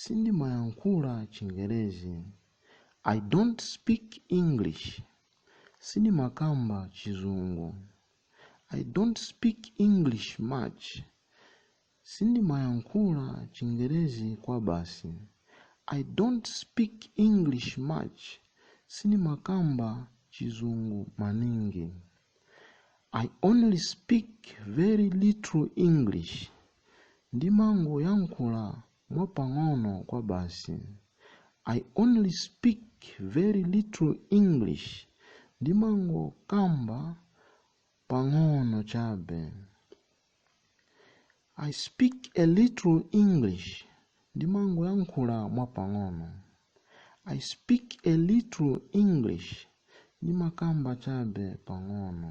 Sindimayankhula Chingerezi. I don't speak English. Sindimakamba Chizungu. I don't speak English much. Sindimayankhula Chingerezi kwabasi. I don't speak English much. Sindimakamba Chizungu maningi. I only speak very little English. Ndimangoyankhula mwapang'ono kwabasi. I only speak very little English. Ndimangokamba pang'ono chabe. I speak a little English. Ndimangoyankhula mwapang'ono. I speak a little English. Ndimakamba chabe pang'ono.